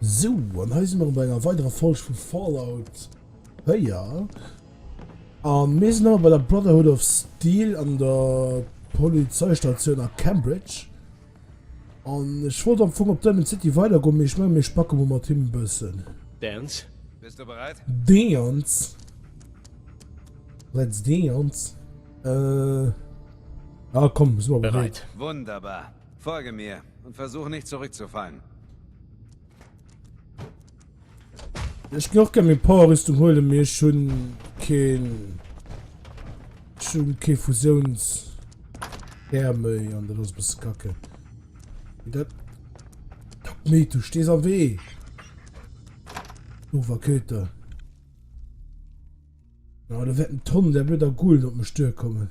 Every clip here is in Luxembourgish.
So, an hei si mer bei enger weiderer Folsch vu Fallout Héier. An mir sinn awer bei der Brotherhood of Steel an der Polizeistatioun a Cambridge. An ech wollt am Fong op Diamond City weider goen, mee ech mengen mir spacke mol mat him e bëssen. Dance. Bist du bereit? Dance. Let's dance. Euh. Ah komm, si mer bereet. Wunderbar. Folge mir und versuch nicht zurückzufallen. Ech gin och gär méi Powerrüstung huelen, mee ech hun keen, ech hun kee Fusiouns Här méi an dat ass e bësse kacke. Mee dat, mee du stees am Wee, dover Köter. Ja, da wäert en Tonn där blöder Gulen op mech duerkommen.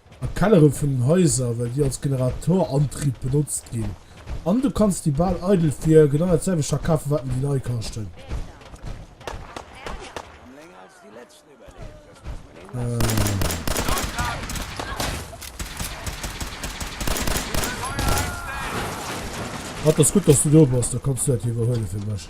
a Kellere vun den Haiser, well déi als Generatorantrib benotzt ginn, an du kanns déi bal eidel fir genau dat selwecht verkafen, wat en déi nei kaschten. Dat ass gutt, dass du do bass, da kanns du dat iwwerhuele fir mech.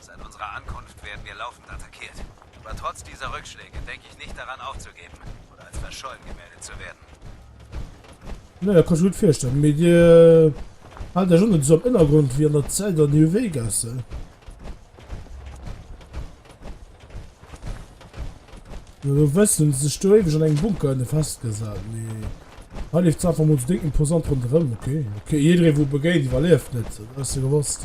Seit unserer Ankunft werden wir laufend attackiert. Aber trotz dieser Rückschläge gedenke ich nicht daran aufzugeben oder als verschollen gemeldet zu werden. Nee, dat kann ech mir net virstellen. Mee Dir haalt Iech och net esou am Ënnergrond wéi an der Zell der New Vegas, he? No der West hunn se sech do éiweg an engem Bunker ënne festgesat. Mee hei leeft d'Saach einfach mol esou déngt imposant ronderëm. Ok, ok, jidderee wou e begéint, iwwerlieft net. Dat ass jo gewosst.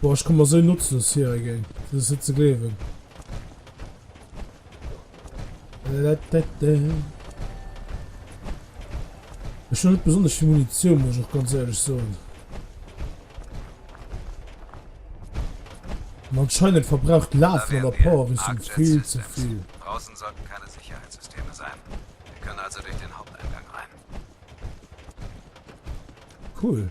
Boah, ech komme mer sou notzlos vir ergéint, dat ass net ze gleewen. Ech hun net besonnesch vill Munitioun, muss ech och ganz éierlech soen. An anscheinend verbraucht d'Laf vun der Power-Rüstung vill ze vill. Draussen sollten keine Sicherheitssysteme sein. Wir können also durch den Haupteingang rein. Cool.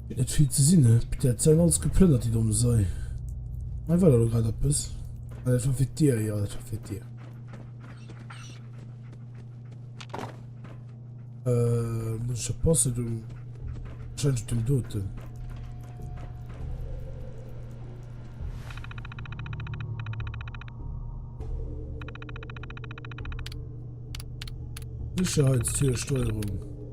Et feelt ze sinn, hä? Peter, et säin alles geplënnert, déi domm Sei. Hei war der do grad eppes? Ah, dat war fir d'Dier, jo, dat war fir d'Dier. Äh, muss ich oppassen, du. Wahrscheinlich dem Doten. Sicherheitstiersteuerung.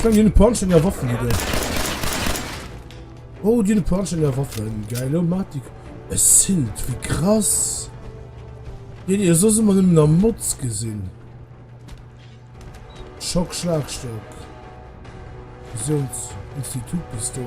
Ich meine, die Punch sind ja Waffen, Digga. Oh, die Punch sind ja Waffen. Geil, oh, Matik. Es sind, wie krass. Den ihr so immer in der Mutz gesehen. Schock, Schlagstock. Visions, Institutpistole.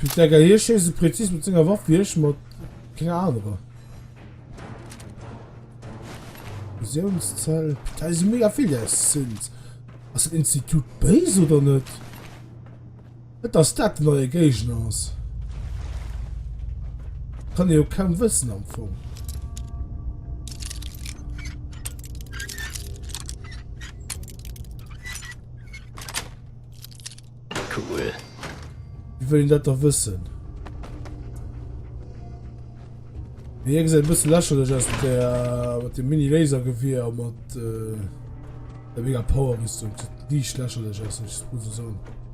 Putain, Digga, hie schéisst esou präzis mat senger Waff wéi ech mat kenger anerer. Visionszell. Putain, esou mega vill, déi eis sinn. Ass dat Institut béis oder net? Et ass dat wat eie Géigner ass. Kann ee jo kaum wëssen am Fong. Cool. Wie wëll een dat da wëssen? Wie eng se e bësse lächerlech ass der mat dem Mini-Lasergewier a mat äh, der mega Power-Rüstung. Diicht lächerlech ass, muss e soen.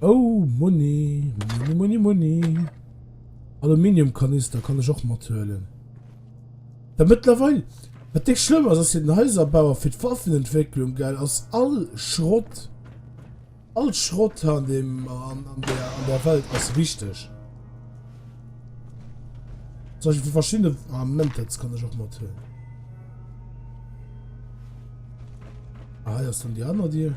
Oh Muni, Muni, Muni, Muni. Aluminiumkanister kann ech och mat huelen. Well mëttlerweil, wat dicks schlëmm ass, ass fir den Häiserbau a fir d'Waffenentwécklung, gell, ass all Schrott, all Schrott hei an deem, an der, an der Welt ass wichteg. Zum Beispill fir verschiddene, ah, Moment, dat kann ech och mat huelen. Ah, hei ass dann déi aner Dier.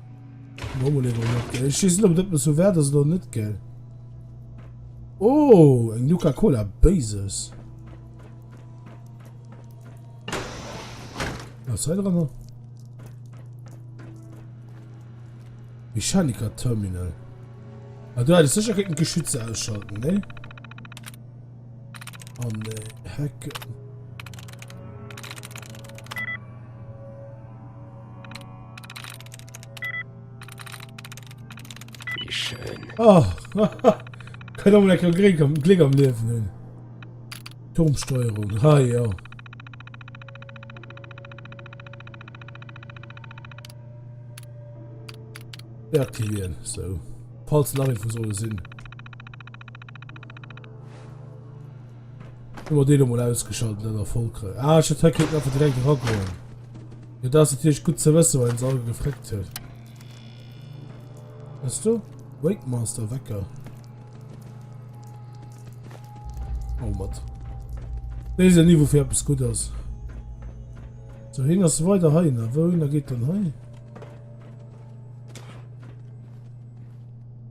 Normal eben net gell. Ich wissen ob net muss so wert as oder net gell. Oh eng Nuka Cola Bases. Was sei dran? Mechaniker Terminal. Ah, du hättest sicher geschütze ausschalten, ne? an Hecken. Wie schön. Oh, kann auch lecker Glück am, Glück am Leben hin. Turmsteuerung, ha ja. Deaktivieren, so. Falls nach irgendwo soll sinn. Immer den nochmal ausgeschaltet, dann erfolgreich. Ah, ich hätte heute einfach direkt rangegangen. Ja, das ist natürlich gut zu wissen, weil uns alle gefragt hat. Weißt du? Wake Master, Wecker. Oh, Mann. Das ist ja nie, wofür etwas gut ist. So, hin ist weiter heim. Wohin geht denn heim?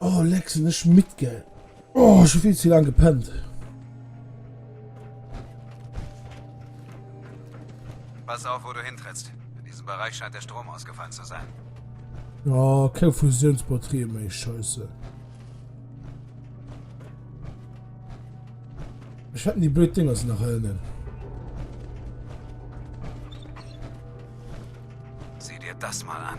Oh leck sinn ech midd gell. Oh ech hu vill ze laang gepennt. Pass auf wou du hintrittst. In diesem Bereich scheint der Strom ausgefallen zu sein. Oh, keng Fusionsbatterie méi, scheisse. Ech hätten die blöd Dinger se nach hellen. Sieh dir das mal an.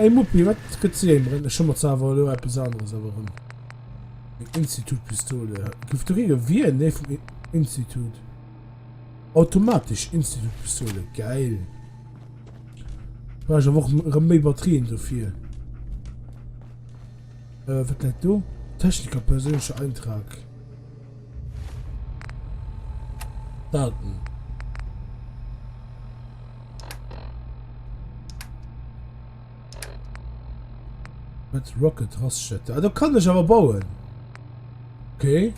Ey Muppi, wat gëtt si eng Breng? Ech hu mer zwar awer elo eppes aneres erwerfen. Eng Institut-Pistole. Gouf do kee gewien? Nee, vum Institut. Automatesch Institut-Pistole. Geil. Brauch ech awer och erëm méi Batterien dofir. Äh, wat läit do? Techniker, perséinlecher Eintrag. Welten. Mit Rocket Raststätte. Ah, da kann ich aber bauen. Okay.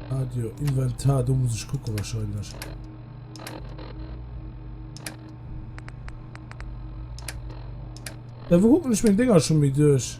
Radio Inventar, da muss ich gucken wahrscheinlich. Ja, wo gucken ich mein Dinger schon mit durch?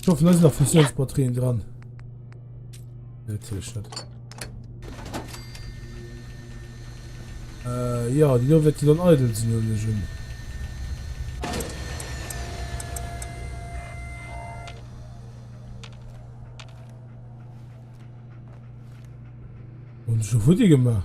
Ich hoffe, da sind noch Fusionsbatterien dran. Nee, natürlich nicht. Äh, ja, die da wird die dann eitel sind, oder nicht? Und schon Futti gemacht.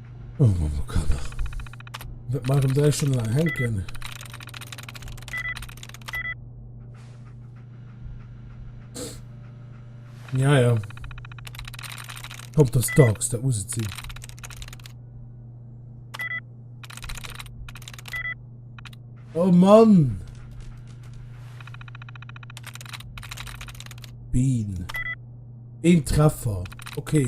Oh Mann, oh Kader. Wat mei rem 3 Stonne laang hänken. Ja, ja. Kommt das Dogs, da muss es sinn. Oh Mann! Bean. Ein Treffer. Okay.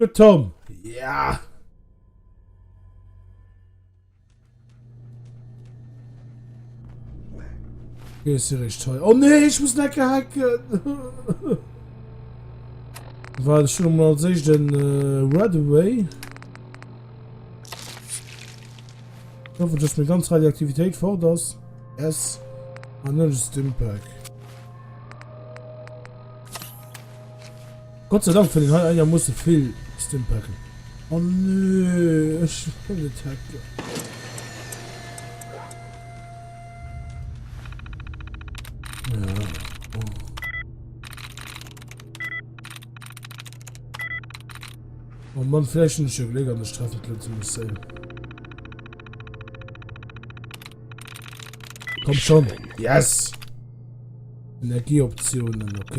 De Tom, yeah! Gehst du recht hei? Oh nee, ich muss nicht hacken! War das schon mal als ich den äh, Red Away? Ich hoffe, dass mir ganz Radioaktivität fort ist. Yes. An ah, dann ist Stimpack. Gott sei Dank fënnt een hei einermoosse vill Stimpacke. Oh nee, ech wëll net hacken. Oh Mann, vläicht hunn ech jo Gléck an ech treffen d'Lëtzebuerg Sail. Komm schonn, yes! Energieoptiounen, ok.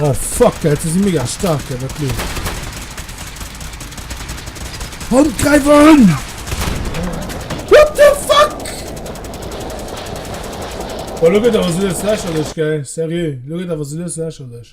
Oh fuck, dat si mega stark an der Klo. Hund, greif an! What the fuck? Boah, lo gëtt awer so lächerlech, gell? Seriö, lo gëtt awer so lächerlech.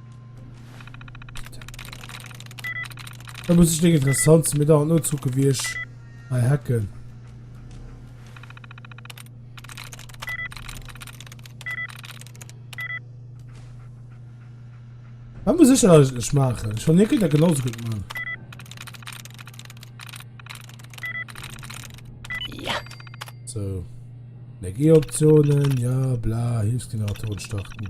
Da muss ich nicht interessant sind, mir da nur zucken, wie ich bei Hacken. Was muss ich eigentlich machen? Ich will nicht wieder genauso gut machen. Ja. So. Energieoptionen, ja, bla, Hilfsgeneratoren starten.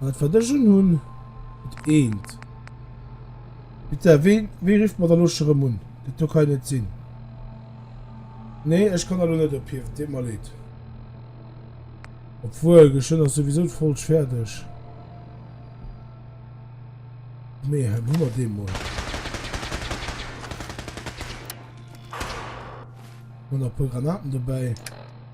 Wat wat ech un hunn, et eent. Bitte, ween, wee rifft mer da lo scho rëm un? Dat do kann jo net sinn. Nee, ech kann da lo net ophiewen, deet mer leed. Obwuel, geschwënn ass souwisou d'Folg fäerdeg. Mee hei hu mer dee mol. Hunn nach e puer Granaten dobäi.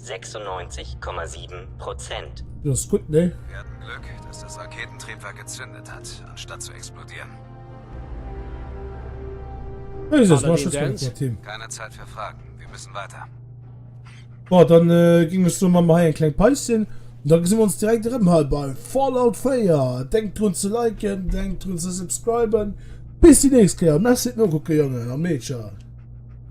96,7 Prozent. Jo Sputnik. Mir haten Glück dass das Raketentriebwerk gezündet hat anstatt zu explodieren. Paladin Dance. Keine Zeit für Fragen, wir müssen weiter. Bon, dann gin ech soen, man man hei eng kleng Paus hin an dann gesin mer ons direkt erem hei bei Fallout 4. Denkt drun ze liken, denkt drun ze subscriben. Bis déi nächst Kéier. Merci fir d'Nokucken Jongen an Meedcher.